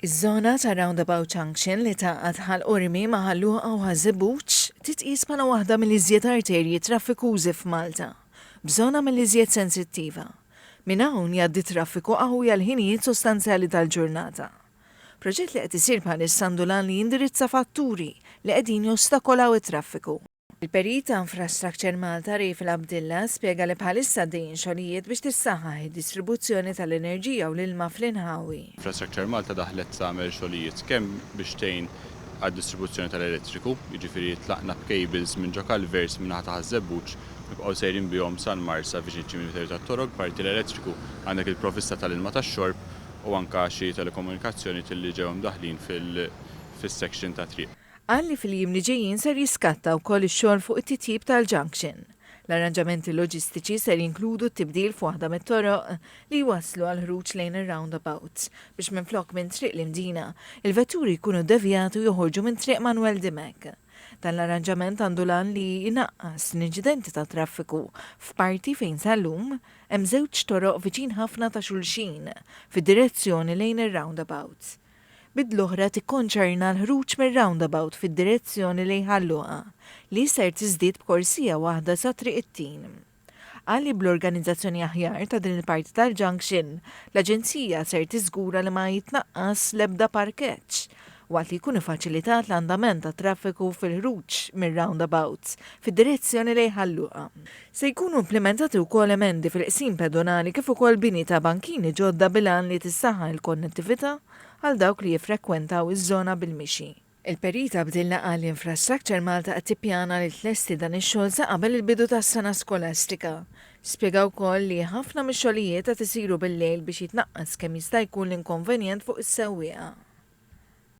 Iż-żona ta' roundabout junction li tgħaqqad Ħal Qormi ma' Ħal Luqa u Ħal Żebbuġ titqies bħala waħda mill-iżjed arterji traffikużi f'Malta, b'żona mill-iżjed sensittiva. Minn hawn jgħaddi traffiku qawwi għal ħinijiet sostanzjali tal-ġurnata. Proġett li qed isir bħalissa għandu l-għan li jindirizza fatturi li qegħdin jostakolaw it-traffiku. Il-Perit ta' Infrastructure Malta Rayf Labdilla spjega li bħalissa għaddejjin xogħlijiet biex tissaħħaħ id-distribuzzjoni tal-enerġija u l-ilma fl-inħawi. Infrastructure Malta daħlet tagħmel xogħlijiet kemm biex tgħin għad-distribuzzjoni tal-elettriku, jiġifieri tlaqna b'cables minn ġo culverts min-naħa ta' Ħaż-Żebbuġ nibqgħu sejrin bihom sal-Marsa viċin iċ-ċimiterju tat-Torok b'parti l-elettriku, għandek il-provvista tal-ilma tax-xorb u anke xi telekomunikazzjonijiet li ġew imdaħħlin fis-section tat-triq. Qal li fil-jiem li ġejjin ser jiskatta wkoll ix-xogħol fuq it-titjib tal-junction. L-arranġamenti loġistiċi ser jinkludu t-tibdil f'waħda mit-toroq li jwasslu għall-ħruġ lejn ir-roundabouts biex minflok minn Triq l-Imdina, il-vetturi jkunu ddevjati u joħorġu minn Triq Manwel Dimech. Dan l-arranġament għandu l-għan li jnaqqas l-inċidenti tat-traffiku f'parti fejn sal-lum hemm żewġ toroq viċin ħafna ta' xulxin fid-direzzjoni lejn ir-roundabouts. bid l-oħra tikkonċerna l-ħruġ mir-roundabout fid-direzzjoni lejn Ħal Luqa, li ser tiżdied b'korsija waħda sa Triq it-Tin. Qal li bl-organizzazzjoni aħjar ta' din il-parti tal-junction, l-Aġenzija ser tiżgura li ma jitnaqqas l-ebda parkeġġ, waqt li jkun ifaċilitat l-andament tat-traffiku fil-ħruġ mir-roundabout fid-direzzjoni lejn Ħal Luqa. Se jkunu implimentati wkoll emendi fil-qsim pedonali kif ukoll bini ta' bankini ġodda bil-għan li tissaħħaħ il-konnettività għal dawk li jiffrekwentaw iż-żona bil-mixi. Il-Perita Abdilla qal li Infrastructure Malta qed tippjana li tlesti dan ix-xogħol sa qabel il-bidu tas-sena skolastika. Spjega wkoll li ħafna mix-xogħlijiet qed isiru bil-lejl biex jitnaqqas kemm jista' jkun l-inkonvenjent fuq is-sewwieqa.